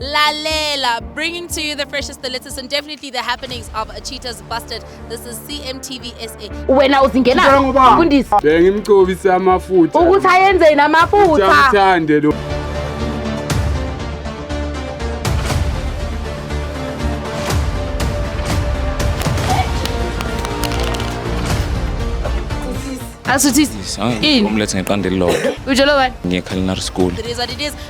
Lalela, bringing to you the freshest, the latest, and definitely the happenings of a Cheetah's Busted. This is CMTV SA. wena uzingena Ngicela ngoba. mfundisi Bengimcobise amafutha. ukuthi ayenzeni amafutha Uthande lo. asuthisi Hayi, Ini? umlethe ngeqanda elilodwa Ujolo bani? ngiye culinary school It is what it is.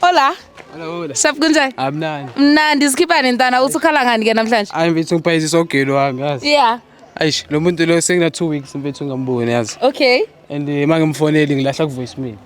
Hola. Hola hola. Shap kunjani? Amnandi. Mnandi sikhiphane ntana uthi ukhala ngani ke namhlanje? Hayi mfethu ngiphayiza isogelo wami yazi. Yeah. Ayish lo muntu lo sekuna 2 weeks mfethu ngamboni yazi. Okay. And eh, uma ngimfoneli ngilahla ku voicemail.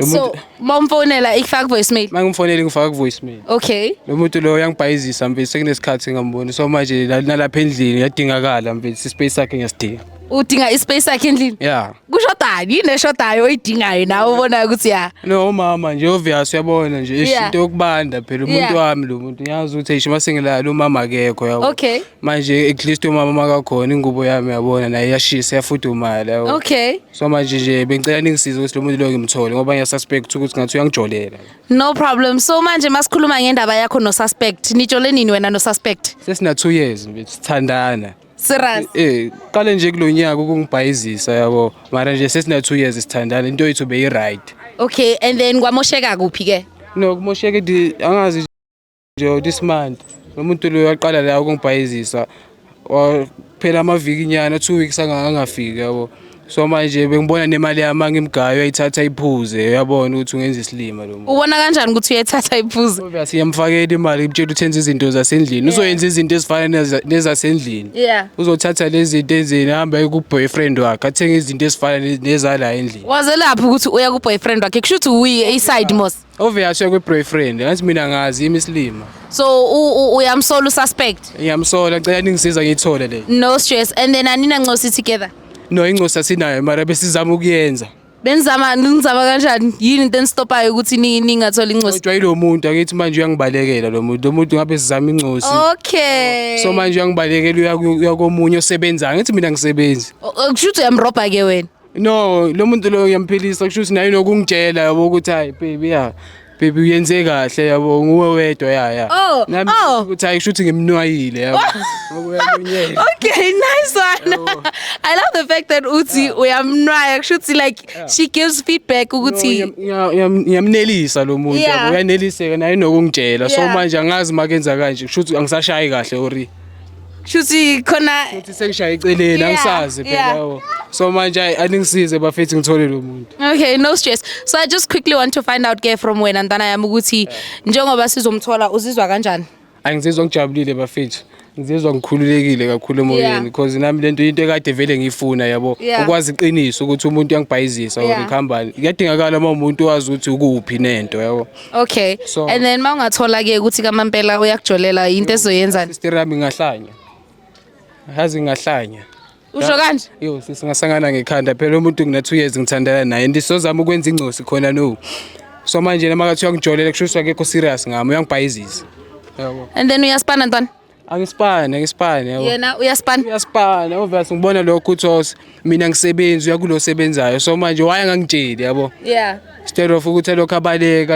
Lo So muntu mawumfonela ikufaka voicemail. uma ngimfoneli ngifaka ku voicemail. Okay. Lo muntu lo uyangibhayizisa mfethu sekunesikhathi ngamboni so manje la- nalapha endlini yadingakala mfethu ispace sakhe ngiyasidinga. udinga ispace sakhe endlini yeah kushodani yini eshodayo oyidingayo nawe ubonayo ukuthi ya no umama nje obvious uyabona nje ish, Yeah. into yokubanda phela umuntu Yeah. wami lo muntu ngiyazi ukuthi eish masengilala umama akekho yabo Okay. manje at least umama makakhona ingubo yami yabona naye iyashisa yafudumala yabo okay so manje nje bengicela ningisize ukuthi lo muntu lo ngimthole ngoba ngiyasuspect ukuthi ngathi uyangijolela no problem so manje masikhuluma ngendaba yakho nosuspect nitshole nini wena nosuspect sesina 2 years mfethu sithandana Serious. Eh, qale nje kulonyaka ukungibhayizisa yabo. Mara nje sesina 2 years sithandana into yethu beyi right. Okay, and then kwamosheka kuphi ke? No, kumosheke di angazi nje this month. Nomuntu lo yaqala la ukungibhayizisa. Phela amaviki nyana 2 weeks angangafiki yabo. so manje bengibona nemali yami angimgayo uyayithatha iphuze uyabona ukuthi ungenza isilima lo muntu ubona kanjani ukuthi uyethatha iphuze ngoba siyamfakela imali kutshela ukuthi enza izinto zasendlini uzoyenza izinto ezifana neza- nezasendlini yeah uzothatha lezi zinto enzeni ahambe aye ku-boyfriend wakhe athenge izinto ezifana ne- nezala endlini wazelaphi ukuthi uya kuboyfriend wakhe kusho ukuthi uyi-side mos Obvious yakwe boyfriend, angathi mina ngazi imislima. So u- u- uyamsola ususpect. Ngiyamsola ngicela ningisiza ngiyithole le. No stress and then anina ncosi together. No incosi asinayo mara besizama ukuyenza. Benizama nizama kanjani? Yini into enistopayo ukuthi ni- ningatholi incosi? Kodwa yilo muntu akithi manje uyangibalekela lo muntu. Lo muntu ngabe sizama incosi. Oh. Okay. So manje uyangibalekela uya- uya komunye osebenzayo. Ngithi mina ngisebenzi. O- o- kusho ukuthi uyamrobha ke wena. no lo muntu lo uyamphilisa kusho ukuthi naye nokungitshela yabo ukuthi hayi baby ya baby uyenze kahle yabo nguwe wedwa ya ya Oh, nami oh. ukuthi hayi kusho ukuthi ngimnwayile yabo Ngokuyalunyela. Okay, nice one. I love the fact that uthi uyamnwaya kusho ukuthi like she gives feedback No, ukuthi ngiyam- ngiya- ngiyam- ngiyamnelisa lo muntu Yeah. yabo uyaneliseka naye nokungitshela so Yeah. manje angazi makenza kanje kusho ukuthi angisashayi kahle ori shuthi khona Futhi sengishaye eceleni Yeah, angisazi yeah. phela yabo. So manje ayi, aningisize bafethu ngithole lo muntu. Okay, no stress. So I just quickly want to find out ke from wena ntana yami ukuthi njengoba sizomthola uzizwa kanjani? Angizizwa ngijabulile bafethu. Ngizizwa ngikhululekile kakhulu Yeah. emoyeni because nami lento into ekade vele ngiyifuna yabo. Yeah. Ukwazi iqiniso ukuthi umuntu uyangibhayizisa or Yeah. ngikhambani. Kuyadingakala uma umuntu wazi ukuthi ukuphi nento yabo. Okay. So- and then mawungathola ke ukuthi kamampela uyakujolela into ezoyenzani? sister yami ngahlanya hazi ngahlanya Usho kanje? yo singasangana ngekhanda phela umuntu ngina 2 years ngithandana naye and sozama ukwenza ingcosi khona no so manje noma kathi uyangijolela kusho ukuthi akekho serious ngami uyangibhayiziza yabo And then uyaspana ntwana? angisipane angisipane yabo. yena uyaspana uyaspana obvious ngibona lokho ukuthi os mina ngisebenzi uyakulo osebenzayo so manje waye angangitsheli yabo yeah instead of ukuthi lokho abaleka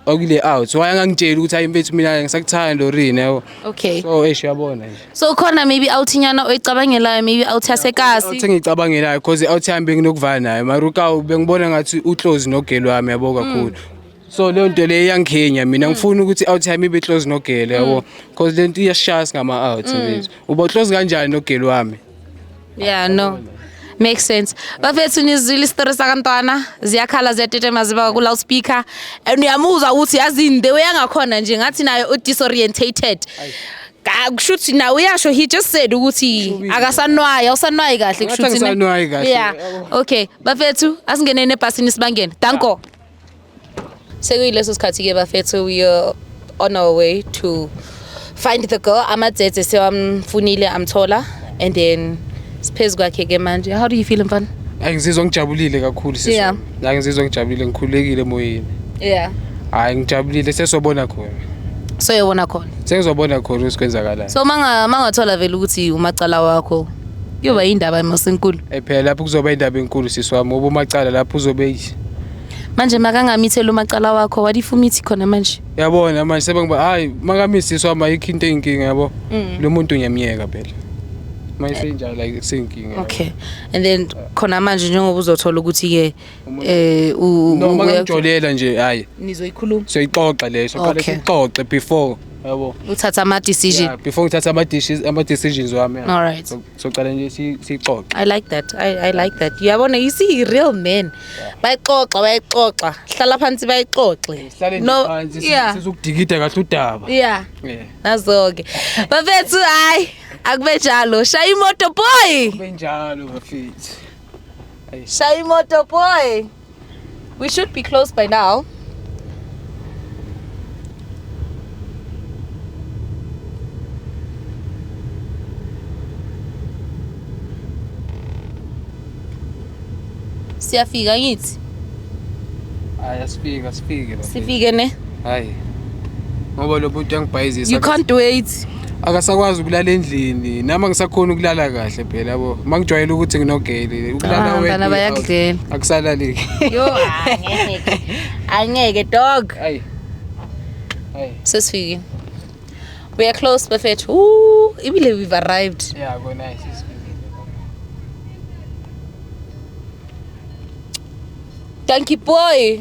akule out waye angangitsheli ukuthi hayi mfethu mina ngisakuthanda lorini yabo okay so eish uyabona nje so khona maybe out nyana oyicabangelayo maybe out uthi yasekasi ngicabangelayo cause out yami benginokuvala nayo maruka bengibona ngathi uclose nogeli wami yabo kakhulu so leyo nto leyo iyangikhenya mina hmm. ngifuna ukuthi out time ibe close nogele yabo hmm. because le nto iyashaya singama out hmm. uba close kanjani nogele wami yeah no makes sense bafethu nizwile isitori sakantwana ziyakhala ziyatetema ziba ku-loudspeaker and uyamuzwa ukuthi yazi the way angakhona nje ngathi naye u-disorientated kusho ukuthi nawe uyasho he just said ukuthi akasanwayi awusanwayi kahle kusho ukuthi yeah okay bafethu asingeneni ebhasini sibangene danko sekuyileso sikhathi-ke bafethu we are on our way to find the girl amadzedze sewamfunile amthola and then siphezu kwakhe-ke manje how do you feel mfana Ay ngizizwa ngijabulile kakhulu sisi. Yeah. Ay ngizizwa ngijabulile ngikhulekile emoyeni. yeah Hayi ngijabulile sesobona khona. so yobona khona Sengizobona khona ukuthi kwenzakalayo. so manga mangathola vele ukuthi umacala wakho kuyoba yindaba emasenkulu Eh phela lapho kuzoba indaba enkulu sisi wami ngoba umacala lapho uzobe manje makangamitheli umacala wakho wadifumithi khona manje yabona manje sebengiba hayi makamisiswa ma ikho into eyinkinga yabo mm. lo muntu ngiyamyeka phela uma isenjalo like senkinga okay and then khona manje njengoba uzothola ukuthi ke eh noma ngijolela nje hayi nizoyikhuluma soyixoxa leyo soqale sixoxe before yabo uthatha ama decision before ngithatha ama decisions wami all right socala nje si- sixoxe I like that. I, I like that. Uyabona you see you real men. Bayixoxa, bayixoxa. Hlala phansi bayixoxe. sihlale nje No, phansi si- yeah. sizokudikida kahle udaba Yeah. Yeah. Nazoke. Bafethu hayi akube njalo. Shaya imoto boy. benjalo bafethu Shaya imoto boy. We should be close by now. Siyafika ngithi. Hayi asifika sifike la. Sifike ne. Hayi. Ngoba lo bhuti uyangibhayizisa. You can't wait. akasakwazi ukulala endlini nami angisakhoni ukulala kahle phela yabo uma ngijwayele ukuthi nginogeli ukulala Ah, bana bayakudlela. akusalaleki yo angeke angeke dog ayi ayi sesifikile we are close bafethu Ooh, ibile we've arrived ya kona ayi sesifikile danki boy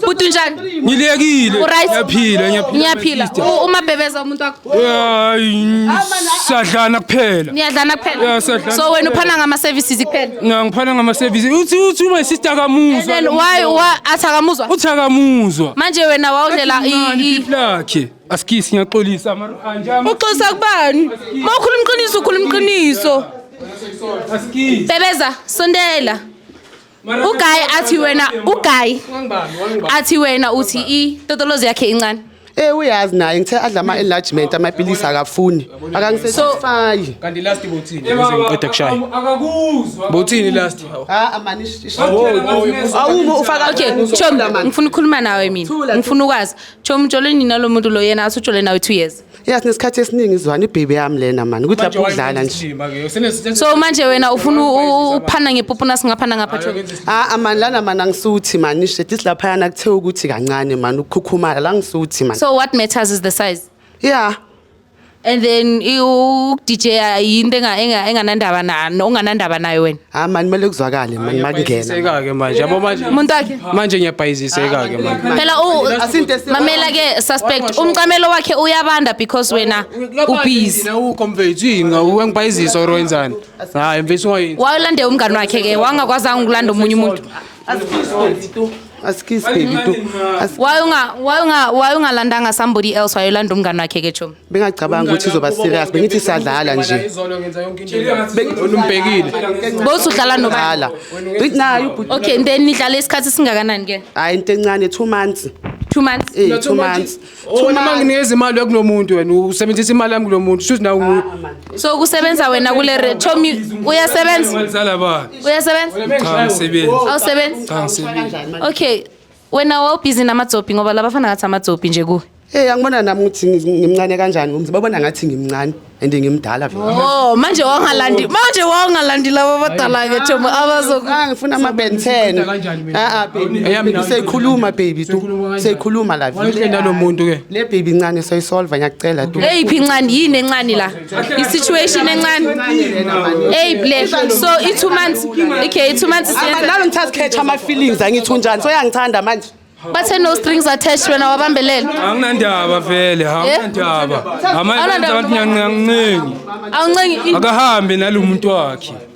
Bhuti unjani? Ngilekile. Uryt? Ngiyaphila, ngiyaphila. Ngiyaphila. sister. U- Umabhebeza umuntu wakho. Hayi, sadlana kuphela. Niyadlana kuphela. Yeah, sadlana So wena uphana ngama services kuphela. Na ngiphana ngama service. Uthi uthi my sister kamuzwa. Then why why athi akamuzwa? Uthi akamuzwa. Manje wena wawudlela i- Nani i- pipi lakhe? Askisi ngiyaxolisa mara anjama. uxosa kubani uma ukhuluma iqiniso ukhuluma iqiniso Askisi. bebeza sondela. uguy athi wena uguy athi wena uthi i totolozi yakhe incane Eh uyazi naye ngithe adla ama enlargement amapilisi akafuni akangisatisfy kanti last bothini ngiqeda kushaya akakuzwa bothini last ha amani awumo ufaka okay chom ngifuna ukukhuluma nawe mina ngifuna ukwazi chom joleni nalomuntu lo yena asujole nawe 2 years ya sinesikhathi esiningi izwana ibhebe yami lena mani ukuthi lapho udlala nje so manje wena ufuna ukuphana ngepupuna singaphana ngapha ah, ah mani lana mani angisuthi mani ishe this laphayana kuthe ukuthi kancane mani ukukhukhumala la ngisuthi mani so what matters is the size yeah and then ukudj yinto enganandaba nani onganandaba nayo wena hayi mani kumele kuzwakale mani makungena Siseka-ke manje yabo manje Umuntu wakhe. manje ngiyabhayiziseka-ke manje Phela u Asinte esiwa- mamela ke suspect umcamelo wakhe uyabanda because wena ubhizi. ukho mfethu yini wengibhayizisa or wenzani hayi mfethu ungayini Wayolande umngani wakhe ke wangakwazanga ukulanda omunye umuntu. asikisi baby tu asikisi baby tu Asi- Why unga why unga why ungalandanga somebody else wayolanda umngani wakhe ke chomi. bengacabangi ukuthi izoba serious bengithi sadlala nje umbhekile both udlala nobala naye ubhuti okay and then nidlala isikhathi singakanani ke hayi into encane 2 months two months eh no, two months oh, wena uma nginikeza imali yakulo muntu wena usebenzisa imali yami kulo muntu shuthi nawe ah, ah, so kusebenza wena kule rethomi uyasebenza uyasebenza cha ngisebenza awusebenza cha ngisebenza okay wena wawubhizi namadzobhi ngoba labafana ngathi amadzobhi nje kuwe Hey angibona nami ukuthi ngi- ngimncane kanjani umzi babona ngathi ngimncane and ngimdala vele. oh manje wangalandi manje wangalandi laba abadala-ke thomo abazoku Ah ngifuna ama Ben 10. kanjani mina? Ah ah baby. Eyami nami- Seyikhuluma baby tu. Seyikhuluma kanjani? Seyikhuluma la. Wayekhe nalomuntu ke. Le baby incane soyisolve ngiyakucela tu. eyiphi incane yini encane la i-situation encane eyi black so i-two months okay i-two months isiyenza- nalo ngithatha catch ama-feelings angithi unjani soyangithanda manje bathe no strings attached wena wabambelela anginandaba vele anginandaba Awunandaba. amaenza abantu nyancinci awuncengi akahambe nalo muntu wakhe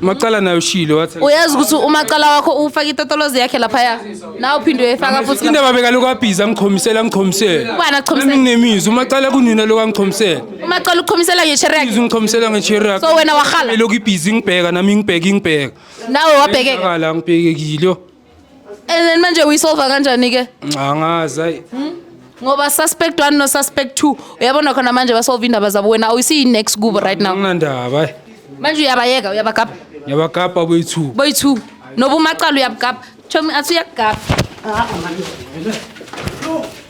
Macala nayo shile wathi uyazi ukuthi umacala wakho ufaka itotolozi yakhe laphaya nawe uphinde uyefaka futhi indaba bekaloko abhizi angiqhomisela angiqhomisela Ubani akuqhomisela? Nami nginemizi umacala kunina lokho angiqhomisela umacala uqhomisela ngeshere yakhe izi ngiqhomisela ngecherak so wena warhala elokhu ibhizi ngibheka nami ngibheka ngibheka nawe wabhekeka akala ngibhekekile and then manje uyisolva kanjani ke angazi ayi ngoba suspect 1 no suspect 2 uyabona khona manje basolve indaba zabo wena awusiyi next kubo right now anginandaba ayi manje uyabayeka uyabagaba ngiyabagabha boyi-two boy 2 noba umacala uyabugaba chomi athi uyakugaba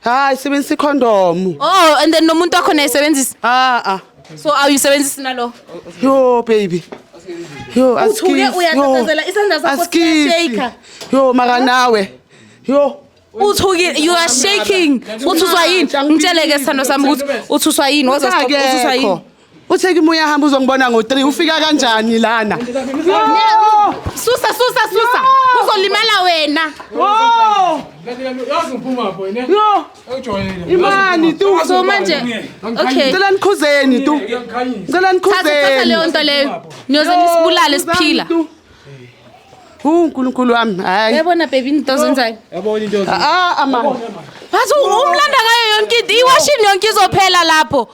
hayi sebenzisa ikhondomu Oh, and then nomuntu wakho naye sebenzisa. aa So awuyisebenzisi nalo. yo baby yo Uthuke asikisi, uyatatazela, yo, isandla sakho asikisi. siyashake. yo maka nawe yo Uthukile, you are shaking. Uthuswa yini? Ngitsheleke sithando sami ukuthi uthuswa yini? Waze stop uthuswa yini? Akekho. Uthe kimi uyahamba uzongibona ngo-3 ufika kanjani lana? Susa susa susa. Uzolimala wena. Oh! Yazi ngiphuma pho ne. Yo! Ujwayele. Imani tu. So manje okay. Ngicela nikhuzeni tu. Ngicela Thatha thatha nikhuzeni. leyo nto leyo. Niyoze nisibulale siphila. Hu uNkulunkulu wami. Hayi. Yabona baby into zenzayo. Yabona into Ah, amani. Bathi umlanda ngayo yonke into. Iwashini yonke izophela lapho.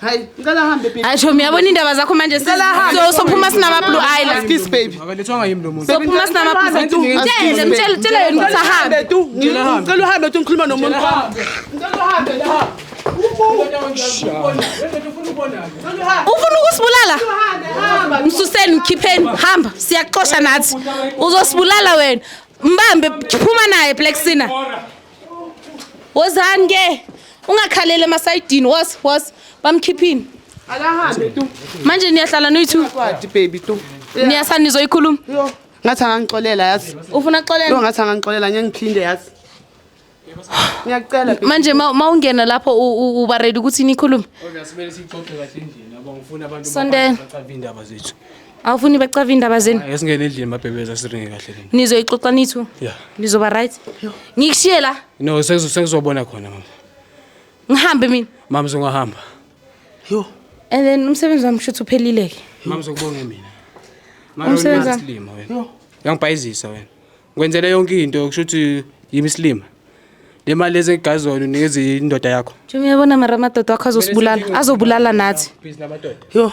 Hayi, ngicela hambe baby. Hayi Shomi yabona indaba zakho manje Ngicela hambe. so sophuma sinama Blue Island. Kiss baby. Akalethwanga yimi lo muntu. Sophuma sinama Blue Island. Mtshele mtshele mtshele yena ukuthi ahambe. tu. Ngicela hambe. Ngicela uhambe tu ngikhuluma nomuntu wami. Ngicela uhambe la. Ufuna ukusibulala? Msuseni mkhipheni hamba siyakuxosha nathi. Uzosibulala wena. Mbambe phuma naye Black Sina. Wozani ke ungakhalele emasayidini was was bamkhiphini. Akahambe tu. Manje niyahlala noyithu. Kwadi baby tu. Niyasa nizoyikhuluma. Yo. Ngathi angangixolela yazi. Ufuna Yo kuxolela? ngathi angangixolela ngeke ngiphinde yazi. Ngiyacela baby. Manje ma ma ungena lapho u- u- uba ready ukuthi nikhulume. Kodwa simele siyixoxe kahle endlini yabo ngifuna abantu Sondela. bacabe indaba zethu. awufuni bacave indaba zenu esingene endlini mabhebeza siringe kahle lena nizoyixoxa nithu ya nizoba right ngikushiye la no sengizo- sengizobona khona mama ngihambe mina mama sengahamba Yo. and then umsebenzi wami shuthi uphelile-ke mama sokubonge mina Mara Umsebenzi wena wami. isilima wena uyangibhayizisa wena ngikwenzele yonke into kusho ukuthi yimi isilima le mali lezi engigazona unikeza indoda yakho njengoba uyabona mara amadoda wakho azosibulala azobulala nathi Yo.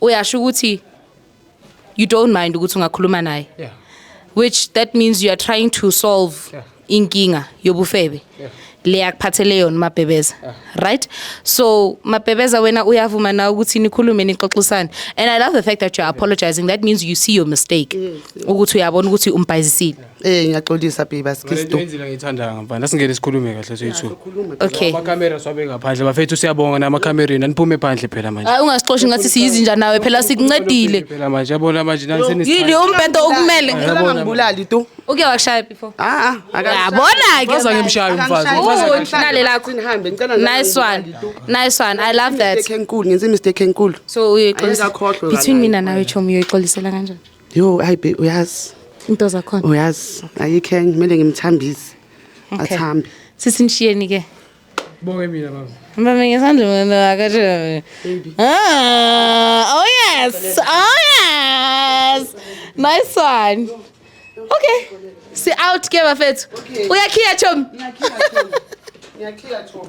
uyasho ukuthi you don't mind ukuthi ungakhuluma naye yeah. which that means you are trying to solve yeah. inkinga yobufebe yeah. le akuphathele yona mabhebeza yeah. right so mabhebeza wena uyavuma na ukuthi nikhulume nixoxisane and i love the fact that you're apologizing that means you see your mistake ukuthi uyabona ukuthi umbhayizisile Eh ngiyaxolisa babe Ngale nto asikisdo. yenzile ngiyithandayo ngaphandle asingene sikhulume kahle soyithu Okay. amakhamera siwabe ngaphandle bafethu siyabonga namakhamereni aniphume phandle phela manje Hayi ungasixoshi ngathi siyizinja nawe phela sikuncedile. phela manje yabona manje nani Yini senisithanda umbhedo okumele. Yabona ngibulali tu. Uke wakushaya before. Ah ah. aka- Yabona ke. Waza ngimshaye umfazi Akangishayi. umfazi Uwu, akangishaye. nale lakho. Nihambe ngicela nami Nice one. ngibulali tu. Nice one. I love that. Mistake enkulu ngenze mistake enkulu. So uyoyixolisa. Ayikakhohlwe Between kancane. mina nawe Chomi uyoyixolisela kanjani? Yo hayi be uyazi. Into zakhona. Uyazi ayikho enye kumele ngimthambise. Okay. Athambe. Sisi nishiyeni ke. Bonge mina baba. Mama ngesandla mama wakashe. Ah, oh yes. Oh yes. Nice one. Okay. Si out ke bafethu. Uyakhiya chom. Ngiyakhiya chom. Ngiyakhiya chom.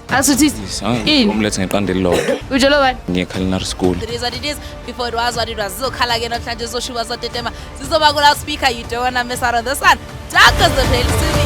Asuthi Yes, ah, ini? umlethe ngeqanda elilodwa Ujola bani? ngiye culinary school It is what it is. Before it was what it was. Zizokhala ke namhlanje zizoshuba zotetema. Zizoba kula speaker you don't wanna miss out on this one. Dark as the pale city.